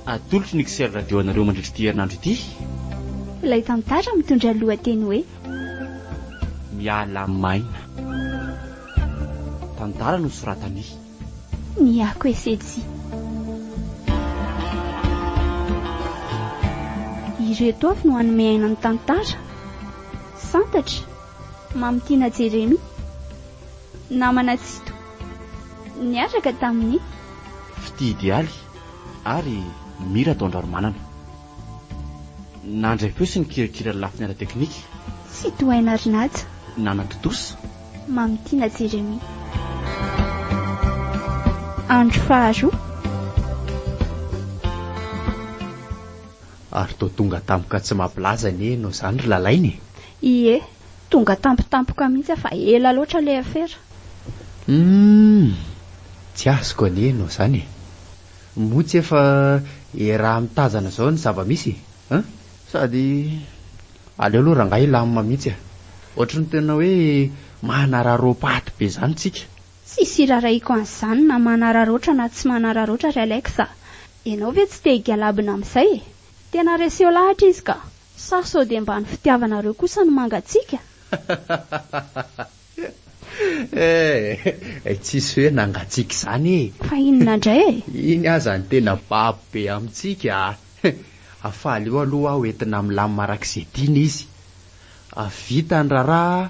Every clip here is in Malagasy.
Atolotry ny XR Radio anareo mandritra ity herinandro ity. Ilay tantara mitondra ny lohateny hoe. Miala maina. Tantara nosoratan'i. Niako Esetsy. Ireto avy no hanome aina ny tantara. Santatra, Mamitiana Jeremia, namana Tsito. Niaraka tamin'i. Fitia Idealy ary Mmy Rataondranomanana. Nandray feo sy nikirakira ny lafiny ara-teknika. Tsy tohaina ary naja. Nanatontosa. Mamitiana Jérémie. Andro faharoa. Ary toa tonga tampoka tsy mampilaza anie ianao izany ry Lalaina e! Ie, Tonga tampotampoka mihitsy aho fa ela loatra ilay afera. Humm! Tsy azoko anie ianao izany e! Moa tsy efa iaraha mitazana izao ny zava-misy e! Sady aleo aloha rangahy hilamina mihitsy e! Ohatry ny tena hoe manararaoam-paty be izany tsika. Tsisy hirarahiako an'izany na manararaotra na tsy manararaotra ry Alex a! Ianao ve tsy te higalabona amin'izay e! Tena reseau lahatra izy ka! Sa sao dia mba ny fitiavanareo kosa no mangatsiaka? Eh! Tsisy hoe nangatsiaka izany e! Fa inona indray e? Iny aza no tena babo be amintsika a! Hafaly eo aloha aho entina milamina araka izay tiany izy. Avy vita ny raharaha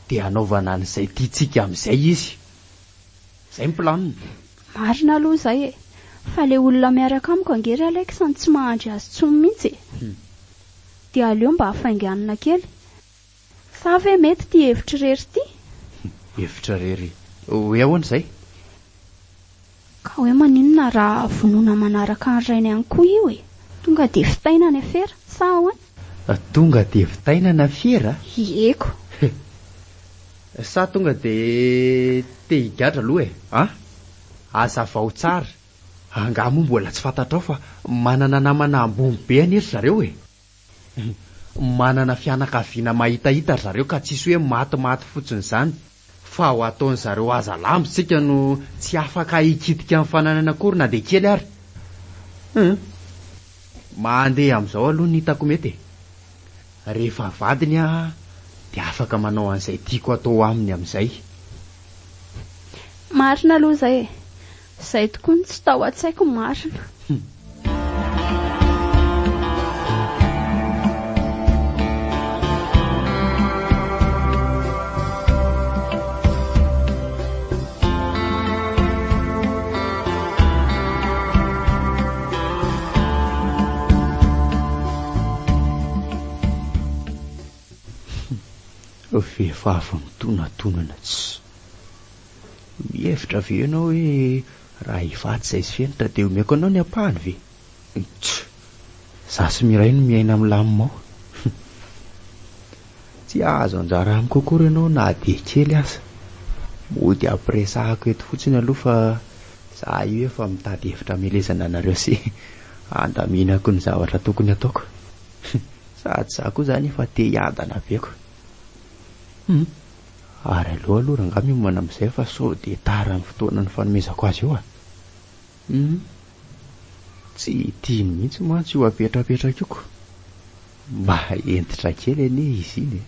dia hanaovana an'izay tiantsika amin'izay izy. Zay ny planiny. Marina aloha izay e! Fa le olona miaraka amiko ange ry Alex no tsy mahandry azy tsony mintsy e! Dia aleo mba hafainganina kely. Sa ve mety ity hevitr'irery ity? Hevitr'irery hoe ahoana izay? Ka hoe maninona raha vonona manaraka ny rainy ihany koa io e? Tonga dia vitaina ny afera, sa ahoana? Tonga dia vitaina ny afera? Ieko. Sa tonga dia te higadra aloha e? A! Hazavao tsara, angaha moa mbola tsy fantatrao fa manana namana ambony be anie ry zareo e? Manana fianakaviana mahitahita ry zareo ka tsisy hoe matimaty fotsiny izany fa ho ataon'ny zareo haza lambo isika no tsy afaka hikitika ny fananany akory na dia kely ary. Hum! Mandeha amin'izao aloha ny hitako mety e! Rehefa vadiny aho dia afaka manao an'izay tiako atao aminy amin'izay. Marina aloha izay e! Izay tokoa no tsy tao an-tsaiko marina. Vehivavy mitonatonana tsy. Mihevitra ve ianao hoe raha hivatsy izahay sy Fenitra dia omeko anao ny ampahany ve? Tch! Izaho sy Miray no miaina milamina ao. Tsy hahazo anjara amiko akory ianao na dia kely aza. Mody ampiresahako eto fotsiny aloha fa za io efa mitady hevitra hamelezana anareo sy handaminako ny zavatra tokony ataoko. Sady za koa zany efa te hiadana be ko. Hum. Ary aleo aloha rangahy miomana amin'izay fa sao dia tara ny fotoana nifanomezako azy io a! Humm. Tsy tiany mihitsy mantsy io apetrapetraka io ko. Mba hentitra kely anie izy iny e.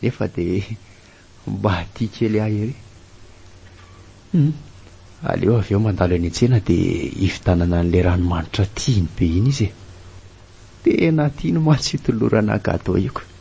Nefa dia mba tia kely ahy ery. Humm. Aleo avy eo mandalo eny an-tsena dia hividanana an'ilay ranomanitra tiany be iny izy e. Tena tiany mantsy io tolorana gateau io ko.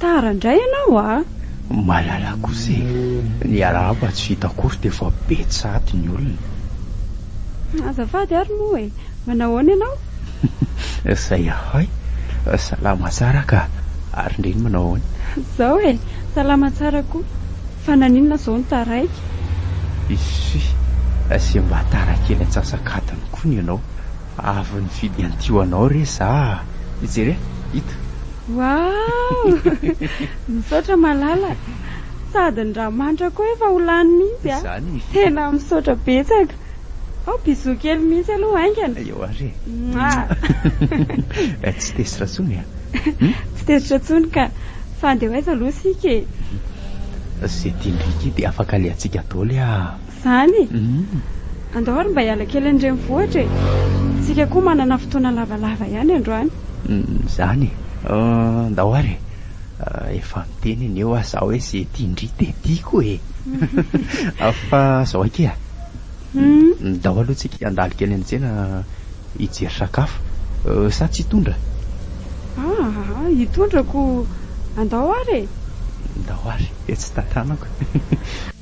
Tara ndray ianao a! Malala kosa e! Niarahaba tsy vita akory dia efa be tsaty ny olona. Azafady ary moa e! Manao ahoana ianao? Zay ahoy? Salama tsara ka! Ary ndry iny manao ahoana? Zao e! Salama tsara koa! Fa naninona zao no taraiky? Isy! Asia mba tara kely antsasak'adiny koa ny anao! Avy nifidy an'ity ho anao re za a! Jereo! Ito! Waouh! Misaotra malala! Sady ny ranomanitra koa efa ho lany mihitsy a! Tena misaotra betsaka! Ao bisous kely mihitsy aloha haingana! Eo ary e! Mouah! Tsy tezitra intsony e! Tsy tezitra intsony ka! Fa andeha ho aiza aloha isika e? Izay tian'i Ricky dia afaka alehantsika daholo e! Zany e! Andao ary mba hiala kely any renivohitra e! Tsika koa manana fotoana lavalava ihany androany. Zany e! Andao ary e! Efa niteny anie hoa za hoe ze tian-dry de tiako e! Fa zao akia a! Ndao aloha tsika handalo kely any tsena hijery sakafo. Sa tsy hitondra? Aa! Hitondra ko! Andao ary e! Ndao ary e! Tsy tantanako.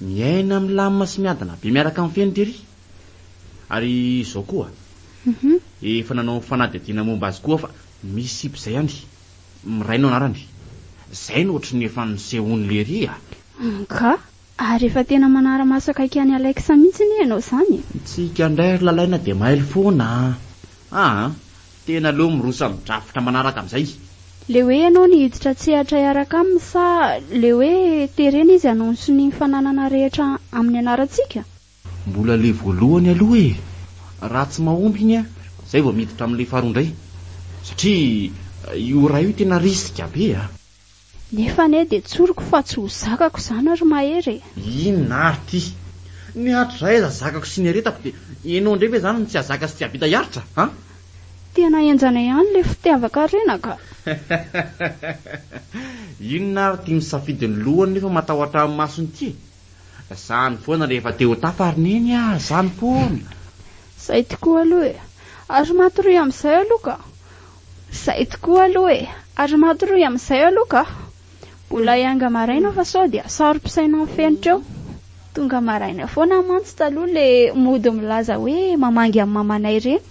Miaina milamina sy miadana be miaraka amin'ny feno tery. Ary izao koa, efa nanao fanadihadiana momba azy koa aho fa misy sipa izay any, Miray no anarany. Izay no ohatry ny efa nisehoan'i Lery a! Ka! Ary efa tena manara-maso akaiky an'i Alex mihitsy anie ianao izany e! Tsika indray ry Lalaina dia mailo foana a! Aa! Tena aleo mirosa amin'ny drafitra manaraka amin'izay. Le hoe ianao no hiditra an-tsehatra hiaraka aminy sa le hoe terena izy hanao ny sonia ny fananana rehetra amin'ny anarantsika? Mbola le voalohany aloha e! Raha tsy mahomby iny an, zay vao miditra amin'le faharoa indray. Satria io iray io tena risque be a! Nefa anie dia tsoriko fa tsy ho zakako izany ry Mahery e! Inona ary ty? Ny hatrizaiza zakako sy niaretako dia ianao indray ve izany no tsy hahazaka sy tsy hahavita hiaritra an? Tena henjana ihany ilay fitiavan-karena ka! Inona ary ty misafidy ny lohany nefa matahotra ny masony ty e! Zany foana rehefa te ho tafa ry Neny a! Zany foana! Izay tokoa aloha e! Ary matoria amin'izay aloha ka! Zay tokoa aloha e! Ary matoria amin'izay aloha ka! Mbola hianga maraina fa sao dia saro-pisaina ny fenitra eo. Tonga maraina foana mantsy taloha le mody milaza hoe mamangy an'i mamanay ireny.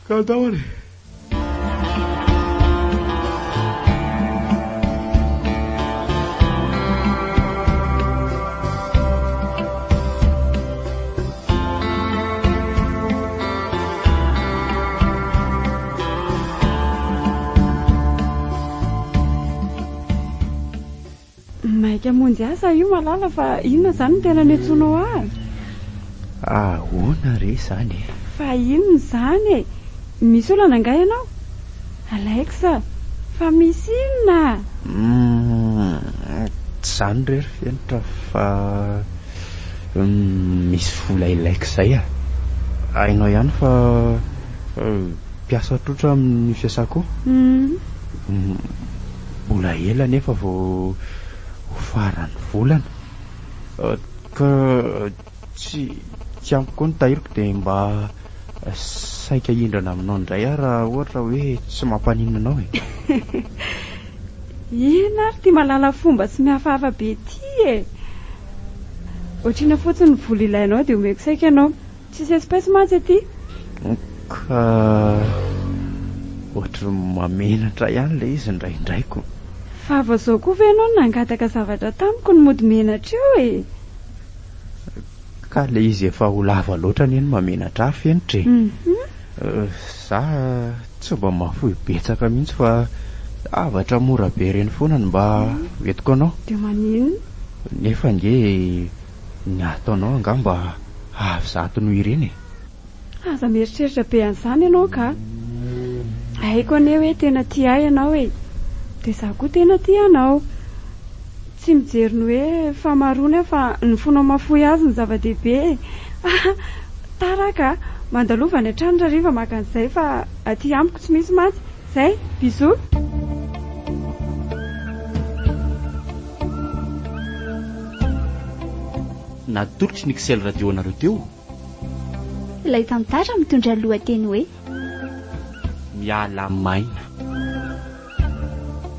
Ka daholo e! Maika monjy asa io malala fa inona izany no tena niantsoanao ahy? Ahoana re izany e? Fa inona izany e? Misy olana angaha ianao? Alex, fa misy inona a? Hum, tsy izany re ry fenitra fa misy vola ilay kizay a! Hainao ihany fa mpiasa trotra amin'ny fiasako io. Mbola ela anefa vao ho faran'ny volana ka Tsy tsy ampy koa ny tahiriko dia mba saika hihindrana aminao indray aho raha ohatra hoe tsy mampaninona anao e! Inona ary ity malala fomba sy mihafahafa be ity e! Otrina fotsiny ny vola ilainao dia omeko saika ianao. Tsisy espèce mantsy aty. Ka ohatry ny mamenatra ihany ilay izy indraindray ko. Fa vao izao koa ve ianao no nangataka zavatra tamiko no mody menatra eo e! Ka ilay izy efa ho lava loatra anie no mamenatra ahy fenitra e. Za tsy mba mahafoy betsaka mihitsy fa zavatra mora be ireny foana no mba entiko anao. Dia maninona? Nefa ange ny ataonao angaha mba avo zato noho ireny e. Aza mieritreritra be an'izany ianao ka. Haiko anie hoe tena tia ahy ianao e! Dia izaho koa tena tia anao. Tsy mijery ny hoe fahamaroany aho fa ny fonao mahafoy azy no zava-dehibe e! Ah! Tara ka! Mandalova any an-trano raha hariva maka an'izay fa aty amiko tsy misy mantsy. Izay! Bisous! Natolotry ny Xel Radio anareo teo Ilay tantara mitondra ny lohateny hoe. Miala maina.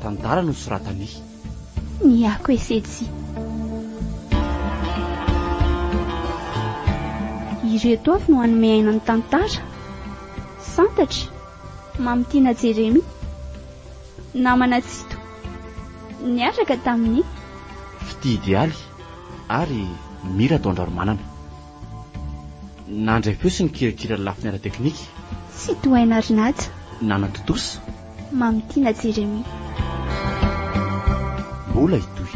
Tantara nosoratan'i. Niako Esetsy. Ireto avy no hanome aina ny tantara, Santatry, Mamitiana Jeremia, namana Tsito, niaraka tamin'ny. Fitidialy. ary mila atao an-draromanana. Nandray feo sy nikirakira ny lafiny ara-teknika. Tsy tohay narin'Aja. Nanatontosa. Mamy Tiana Jeremie. Mbola hitohy.